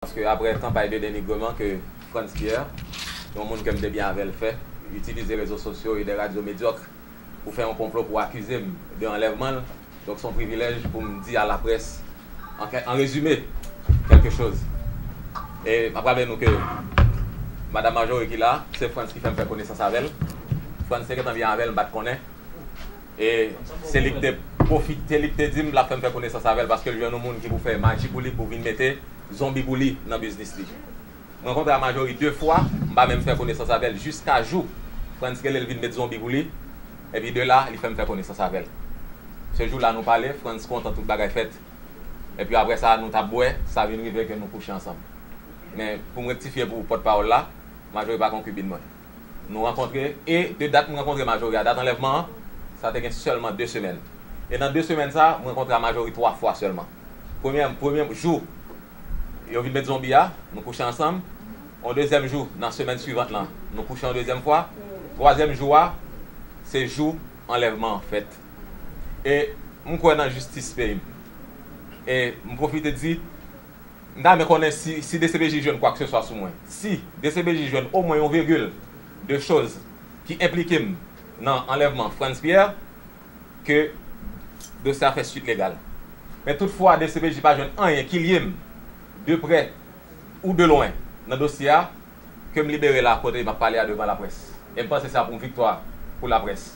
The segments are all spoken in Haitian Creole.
Paske aprè kanpay de denigreman ke Frantz Pierre, yon moun ke m te byen avè l fè, itilize rezo sosyo e de radyo medyòk pou fè yon konplo pou akize m de anlèvman l, donk s on privilèj pou m di a laprès an rezime kèlke choz. E m ap raple nou ke Madam Marjorie ki la, se Frantz ki fè m fè konesans avè l. Frantz te gentan byen avè l m pa t konnen. E se li k te pwofite li k te di m l ap fè m fè konesans avè l paske l jwenn yon moun ki pou fè maji pou li pou vin mete zonbi pou li nan biznis li. M rankontre a Majori de fwa, m pa menm fè konesans avè l jiska jou Frantz rele l vin met zonbi pou li epi de la li fè m fè konesans avè l. Se jou la nou pale, Frantz kontan tout bagay fèt epi aprè sa nou t ap bwè sa vin rive ke nou kouche ansanm. Men pou m rektifye pou pòtpawòl la, Majori pa konkibin mwen. Nou rankontre e de dat m rankontre Majori a dat anlèvman an, sa te gen sèlman de semèn. E nan de semèn sa a, m rankontre a Majori twa fwa sèlman. Premyè premye jou yo vin met zonbi a, nou kouche ansanm. On dezyèm jou nan semèn suivant lan, nou kouche on dezyèm fwa. Twazyèm jou a, se jou anlèvman an fèt. E m kwè nan jistis peyi m. E m pwofite di. M ta renmen konnen si si dcpj jwenn kwakseswa sou mwen. Si dcpj jwenn omwen yon virgil de choz ki enplike m nan anlèvman Frantz Pierre, ke dosye a fè swit legal. Men tout fwa dcpj pa jwenn anyen ki lye m de prè ou de lwen nan dosye a, ke m libere la kote m ap pale a devan laprès e m panse sa pou yon viktwa pou laprès.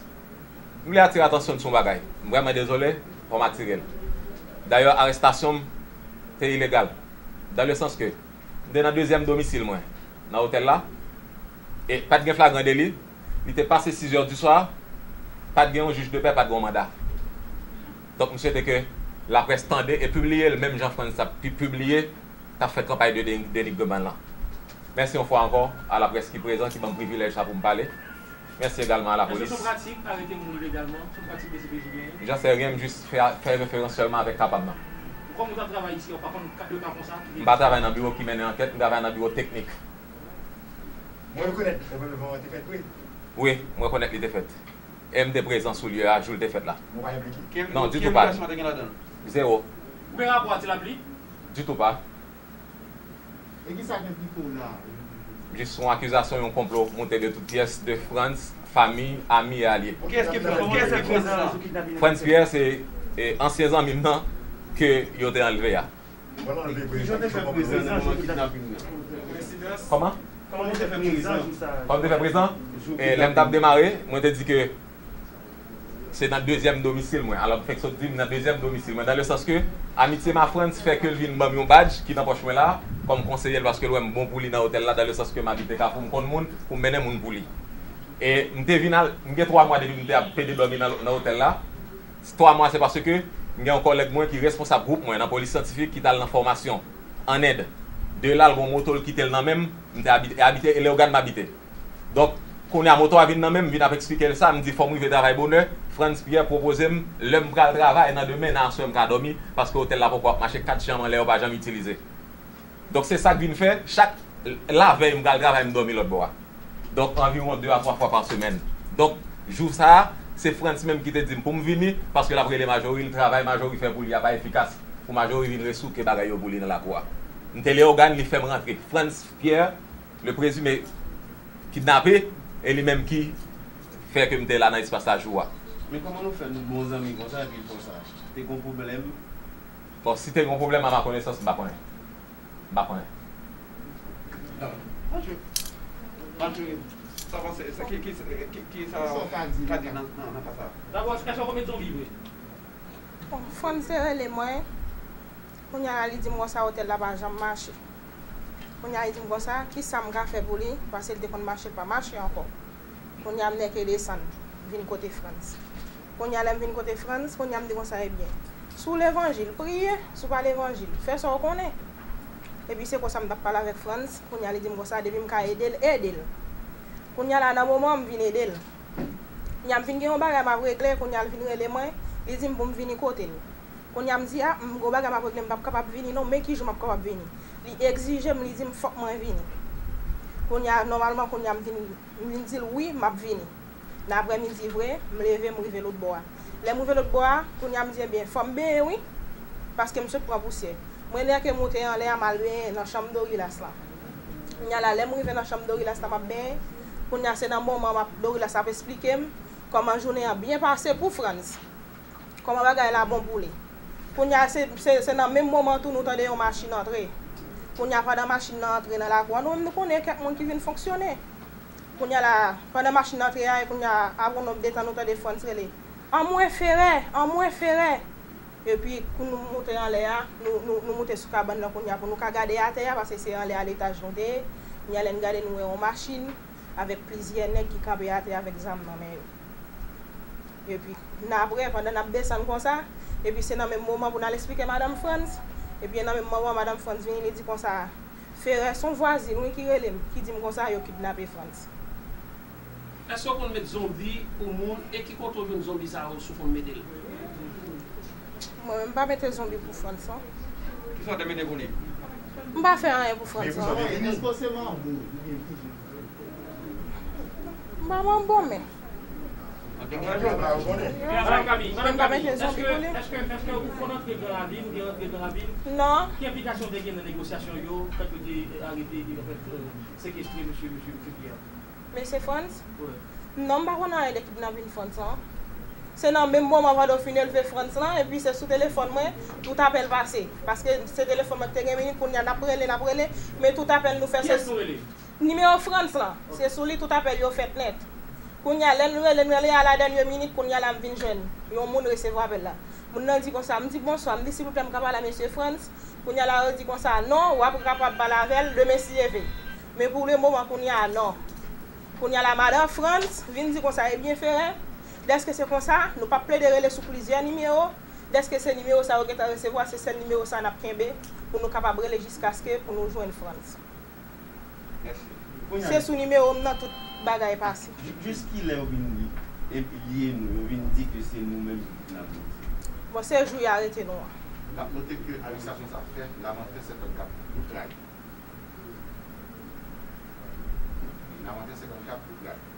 M vle atire atansyon n sou yon bagay. M vrèman dezole fò m atire l. Dayè arestasyon m te ilegal dan le sans ke m te nan dezyèm domisil mwen nan otèl la e pa t gen flagran deli, li te pase sizè di swa, pa t gen yon jij de pè, pa t gen yon manda. Donk m swete ke laprès tande e pibliye l menm jan Frantz t ap pibliye. k ap fè kanpay de denigreman lan. Mèsi yon fwa ankò a laprès ki prezan ki ban m privilèj sa pou m pale. Mèsi egalman a lapolis. Jan sè ryen m jis fè referans sèlman avèk kapab nan. M pa travay nan biwo ki mennen ankèt, m travay nan biwo teknik. Wi, m rekonèt li te fèt. E m te prezan sou lye a jou l te fèt la. Non, ditou pa li. Zewo. Ditou pa. E ki sa gen pito la a? Jis yon akizasyon yon konplo moute de tout pyès de Frantz, fanmi, ami e alye. Kiyès ki Frantz? Kiyès ki Frantz la? Frantz Pierre se ansyen zanmi m nan ke yo te anlve a. Ki jan w te fè prezan nan moman kidnaping nan? Kòman? Kòman w te fè prezan? Kòman m te fè prezan? Lè m t ap demare, mwen te di ke Se nan dezyèm domisil mwen. Alò m fenk sot di m nan dezyèm domisil mwen, dan le sans ke amitye m a Frantz fè ke l vin ban m yon badj ki nan pòch mwen la a, kòm konseye l paske l wè m bon pou li nan otèl la, dan le sans ke m abite Kafou, m konn moun pou m mennen moun pou li. E m te vin al, m gen twa mwa depi m te ap pede dòmi nan otèl la. Twa mwa se paske m gen yon kòlèg mwen ki responsab gwoup mwen nan polis syantifik ki t al nan fòmasyon ann End. De la l gen yon moto l kite l nan men m. M te abite e abite e Leyogàn m abite. Donk, kounye a moto a vin nan menm, m vin ap eksplike l sa, m di fò m rive travay bonè, Frantz Pierre pwopoze m lè m pral travay nan demen, nan aswè m ka dòmi, paske otèl la poko ap mache, kat chanm anlè yo pa janm itilize. Donk se sa k vin fè, chak lavèy m pral travay m dòmi lòtbò a. Donk anviwon de a twa fwa pa semèn. Donk, jou sa a, se Frantz menm ki te di m pou m vini, paske l ap rele Majori l, travay Majori fè pou li a pa efikas, pou Majori vin resouke bagay yo pou li nan lakou a. M te Leyogàn, li fè m rantre. Frantz Pierre. Le prezime kidnape e li menm ki Fè ke m te la nan espas la jou a. Men kòman nou fè nou bon zanmi konsa epi konsa? Te gon pwoblèm? Bon si te gon pwoblèm a ma konesans m pa konnen. M pa konnen. Mathieu Mathieu sa pase sa ki ki ki sa ou ka di nan nan ka sa? Dabò ti Kachou a komèt zonbi vre? Bon frè m te rele mwen kounya la li di m konsa otèl la pa janm mache. Kounya li vin konsa, kisa m ka fè pou li, pase li te konn mache, l pa mache ankò. Kounya m nèke desann, vin kote Frantz. Kounya lè m vin kote Frantz, kounya m di konsa, ebyen, si w levanjil, priye, si w pa levanjil, fè sa w konnen. Epi se konsa m t ap pale avèk Frantz, kounya li di m konsa, depi m ka ede l, ede l. Kounya la nan moman an m vin ede l. Kounya m vin gen yon bagay m ap regle, kounya l vin rele mwen, li di m pou m vini kote l. Kounya m di a, m gwo bagay m ap regle m p ap kapab vini non men ki jou m ap kapab vini. Li egzije m li di m fòk mwen vini. Kounya nòmalman kounya m vin m vin di l wi m ap vini nan aprè midi vre m leve m rive lotbò a. Lè m rive lotbò a kounya m di ebyen fò m benyen wi paske m sot pran pousyè. M reneake moute anlè a m al benyen nan chanm Dorilas lan. Kounya la lè m rive nan chanm Dorilas la m ap benyen kounya se nan moman m ap Dorilas ap esplike m kòman jounen an byen pase pou Frantz. Koman bagay la bon pou li. Kounya se nan menm moman tou nou tande yon machin antre. Kounya pandan machin nan antre nan lakou an nou menm nou konnen kèk moun ki vin fonksyone. Kounya la pandan machin nan antre a e kounya apre yon de tan nou tande Frantz rele, Anmwe Ferè! Anmwe Ferè! Epi kou nou moute anlè a, nou moute sou kabann nan kounya pou nou ka gade atè a paske se anlè a letaj nou te ye. Kounya lè n gade nou wè yon machin avèk plizyè nèg ki kanpe atè avèk zam nan men yo. Epi nan apre pandan nap desann konsa, epi se nan menm moman pou n al esplike Madam Frantz, epi nan menm moman Madam Frantz vini li di konsa, Ferè son vwazin wi ki rele m, ki di m konsa yo kidnape Frantz. Eske w konn met zonbi pou moun e ki kote w jwenn zonbi sa yo si w konn mete l? Mwen menm m pa mete zonbi pou Frantz non. Kisa w te mete pou li? M pa fè anyen pou Frantz non. Manman bon men. Mesye Frantz? Non m pa konn anyen de kidnapin Frantz lan. Se nan menm moman Vado fin elve Frantz lan epi se sou telefòn mwen tout apèl pase. Paske se telefòn mwen ki te gen minit kounya n ap rele n ap rele men tout apèl nou fè se. Nimewo Frantz lan, se sou li tout apèl yo fèt nèt. Kounye a, lè n rele, n rele a la dènye minit, kounye a la m vin jwenn yon moun resevwa apèl la. Moun nan di konsa, m di bonswa, m di silvouplè m ka pale a mesye Frantz? Kounye a la yo di konsa, non, w ap kapab pale avè l demen si e ve. Men pou le moman kounye a, non. Kounye a la madan Frantz vin di konsa, ebyen Ferè, dèske se konsa, nou p ap plede rele sou plizyè nimewo, dèske se nimewo sa ou gentan resevwa, se sèl nimewo sa a n ap kenbe pou nou kapab rele jiskaske pou nou jwenn Frantz. Se sou nimewo m nan tout bagay pase. Jis kilè yo vin enplye nou, yo vin di ke se nou menm ki fout nan mèd. Bon se jou ya rete nou an. Nap note ke administrasyon sa fè Lamantin senkant kat pou tray. Lamantin senkant kat pou tray.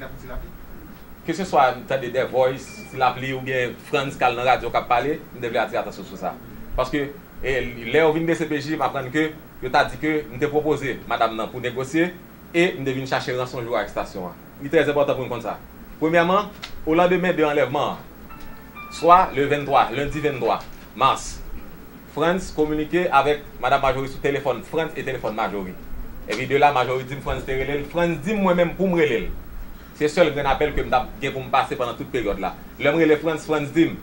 Gadon ti lapli. Keseswa n tande The Voice, Ti Lapli oubyen Frantz k al nan radyo k ap pale, m te vle atire atansyon sou sa. Paske, lè yo vin dcpj, m aprann ke yo ta di ke m te pwopoze madam nan pou negosye e m te vin chache ranson jou arestasyon an. Li trè enpòtan pou n konn sa. Premyèman, olandemen de anlèvman an, swa le 23, lendi 23 mas, Frantz kominike avèk Madam Marjorie sou telefòn Frantz e telefòn Marjorie. Epi de la Marjorie di m Frantz te rele l, Frantz di m mwen menm pou m rele l. Se sèl grenn apèl ke m t ap gen pou m pase pandan tout peryòd la. Lè m rele Frantz, Frantz di m,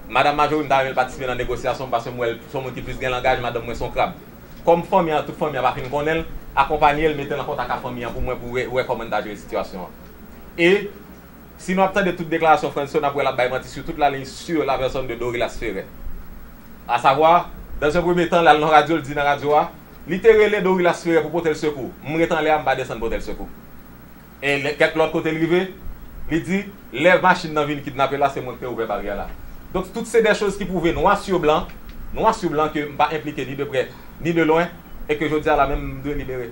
Madam Marjorie m ta renmen l patisipe nan negosyasyon m paske m wè l s on moun ki plis gen langaj, madanm mwen s on krab. Kòm fanmi an, tout fanmi an pa fin konnen l, akonpanye l, mete l an kontak a fanmi an pou mwen pou wè kòman n ta jere sitiyasyon an. E. Si nou ap tande tout deklarasyon Frantz yo, n ap wè l ap bay manti sou tout laliy sur la personne de Dorilas Ferre. A savoir, dans un premier temps, l al nan radyo, l di nan radyo a, li te rele Dorilas Ferre pou pote l sekou, m ret anlè a, m pa desann pote l sekou. E kèk lòt kote l rive, li di, lè machin nan vin kidnape l la, se mwen ki te ouvè baryè la. Donk, tout se dè choz ki pwouve nwa sur blan, nwa sur blan ke m pa enplike ni de prè, ni de lwen, e ke jodi a la menm m dwe libere.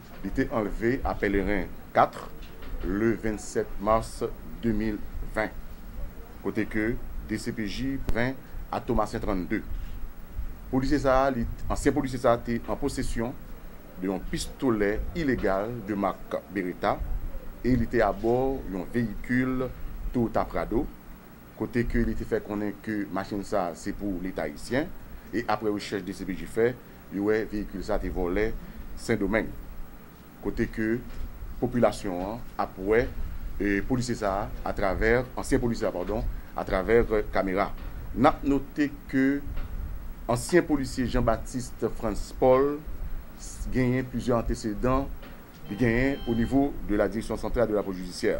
Li te anlve a pèleren 4 le 27 mars 2020 kote ke dcpj pren a Thomassin 32. Polisye sa a li ansyen polisye sa a te an posesyon de yon pistolè ilegal de mak Beretta e li te abò yon veyikil Toyota Prado kote ke li te fè konnen ke machin sa se pou leta ayisyen e aprè rechèch dcpj fè yo wè veyikil sa te vòlè sendomeng kote ke popilasyon an ap wè polisye sa atravè ansyen polisye a padon atravè kamera nap note ke ansyen polisye Jean Baptiste Frantz Paul genyen plizyè antesedan li genyen onivo de la direksyon santral de la polis jidisyè.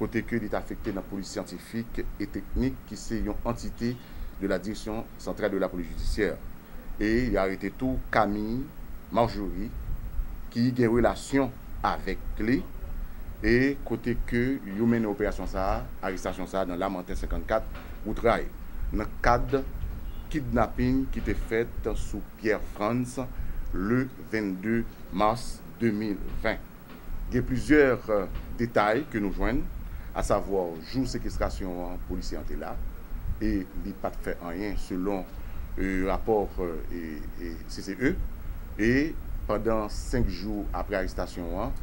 kote ke li t afekte nan polis syantifik e teknik ki se yon antite de la Direction Centrale de la Police Judiciaire e yo arete tou Camille Marjory ki gen relasyon avèk li e kote ke yo mennen operasyon sa a, arestasyon sa a nan Lamanten 54, wout ray, nan kad kidnaping ki te fèt sou Pierre Frantz le 22 mars 2020. Gen plizyè detay ke nou jwenn, a savwa jou sekestrasyon an polisye an te la e li pa t fè anyen selon rapò CCE e pandan 5 jou apre arestasyon an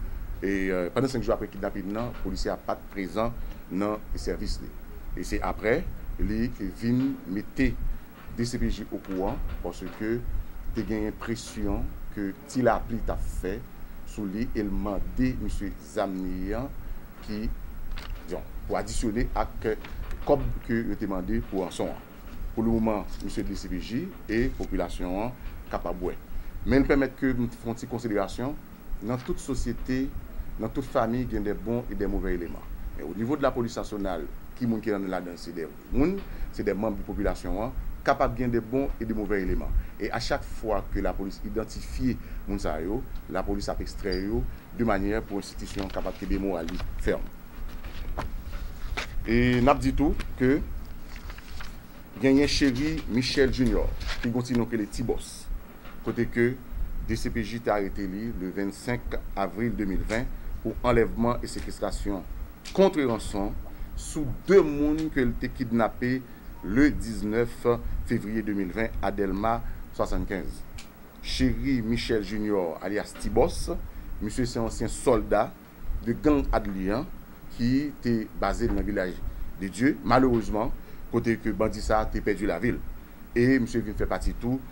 e pandan 5 jou apre kidnapin nan polisye a pa t prezan nan sèvis li e se apre li vin mete Dcpj okouran paske te genyen presyon ke Ti Lapli t ap fè sou li e l mande misye zam li an ki Yon pou adisyone ak kòb ke yo te mande pou ranson an. Pou le moman misye dcpj e popilasyon an kapab wè. Men pèmèt ke m fon ti konsiderasyon nan tout sosyete nan tout famiy gen dè bon e dè movè eleman men onivo de lapolis nasyonal ki moun ki nan ladan l se dè Moun, se de manb de popilasyon an, kapab gen de bon e de movè eleman. E a chak fwa ke lapolis idantifye moun sa yo, lapolis ap ekstrè yo de manyè pou enstitisyon an kapab kenbe moral li fèm. E n ap di tou ke genyen Chery Michel Junior, ki gen yon ti non ki rele Ti Bòs, kote ke dcpj te arete li le 25 avril 2020 pou anlèvman e sekestrasyon kontre ranson sou 2 moun ke l te kidnape le 19 fevriye 2020 a Dèlma 75. Chéry Michel Junior alyas Ti Bòs, misye se ansyen sòlda de gang Adly an ki te baze l nan Vilaj de Dye, malerezman kote ke bandi sa te pèdi lavi l e misye vin fè pati tou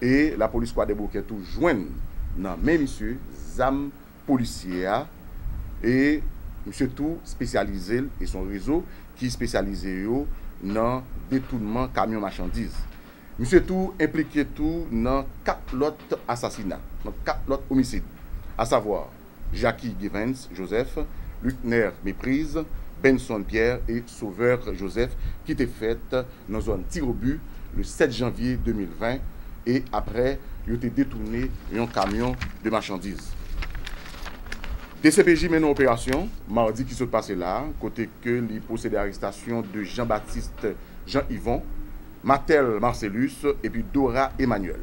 E lapolis kwadèboukè tou jwenn nan men misye zam polisye a e misye tou spesyalize l e son rezo ki spesyalize yo nan detounman kamyon machandiz. Misye tou enplike tou nan 4 lòt asasina, nan 4 lòt omisid, asavwa. Jacky Givens Joseph, Luckner Méprise, Benson Pierre et Sauveur Joseph ki te fèt nan zòn Tirobi le 7 janvye 2020 e aprè yo te detoune yon kamyon de machandiz. Dcpj mennen operasyon madi ki sot pase la kote ke li pwosede arestasyon de Jean Baptiste Jean Yvon, Mathel Marcellus epi Dora Emmanuel.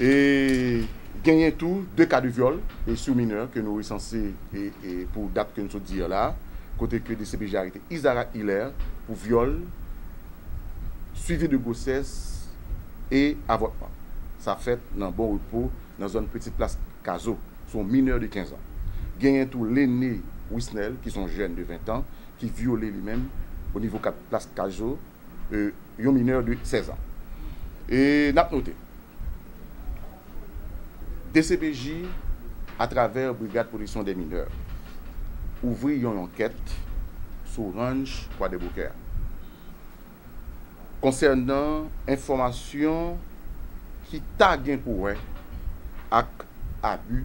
E genyen tou 2 ka de vyòl sou minè ke nou resanse pou dat ke nou sot di la a, kote ke dcpj arete Isarac Hilaire pou vyòl, swivi de gwosès e avòtman. Sa fèt nan Bon Repo nan zòn Petit Place Cazeau, sou yon minè de 15 an. Genyen tou Lene Wisnel ki son jèn de 20 an ki vyole li menm o nivo 4 Place Cazeau. yon minè de 16 an. E n ap note, dcpj atravè Brigad Pwoteksyon dè Minè ouvri yon ankèt sou ranch Kwadèboukè a konsènan enfòmasyon ki ta gen pou wè ak abi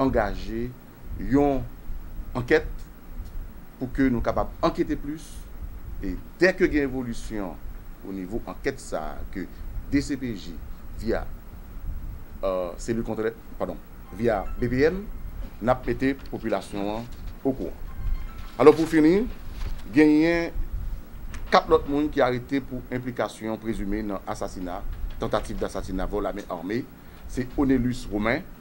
angaje yon ankèt pou ke nou kapab ankete plis e dè ke gen evolisyon o nivo ankèt sa a ke dcpj via Selil Kontrè, padon, via BPM, n ap mete popilasyon an okouran. Alò pou fini, genyen 4 lòt moun ki arete pou enplikasyon prezime nan asasina, tantativ dasasina, vòl a men arme, se Onelus Romain,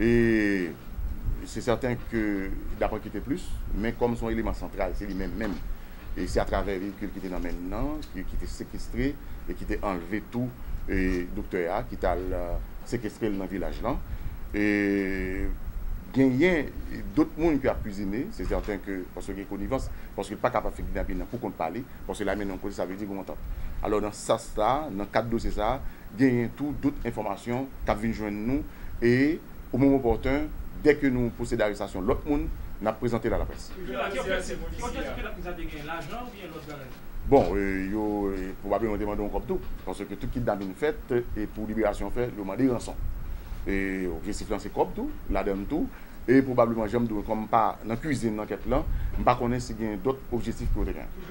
E se sèten ke Dapran kite plis, men kòm se yon eleman santral, se li menm menm. E se atravè veyikil ki te nan men l nan, ki te sekestre e ki te anlve tou doktè a, ki t al sekestre l nan vilaj lan. E genyen dot moun ki akizine, se sèten ke paske gen konivans, paske l pa ka pa fè kidnapin nan pou kont pa li, paske lame nan yon kote sa vle di gen yon antant. Alò nan sans sa, nan kad dosye sa, genyen tou dout enfòmasyon k ap vin jwenn nou e o moman opòten, dè ke nou posede arestasyon lòt moun, n ap prezante l a laprès. Ki objektif ki objektif ke laplis la te genyen? Lajan oubyen lòt bagay? Bon, yo pwobableman te mande yon kòb tou, paske tout kidnapin fèt e pou liberasyon fè, yo mande ranson. E objektif lan se kòb tou, ladan l tou, e pwobableman jan m di w, kòm m pa nan kuizin ankèt lan, m pa konnen si genyen dòt objektif ke yo te genyen.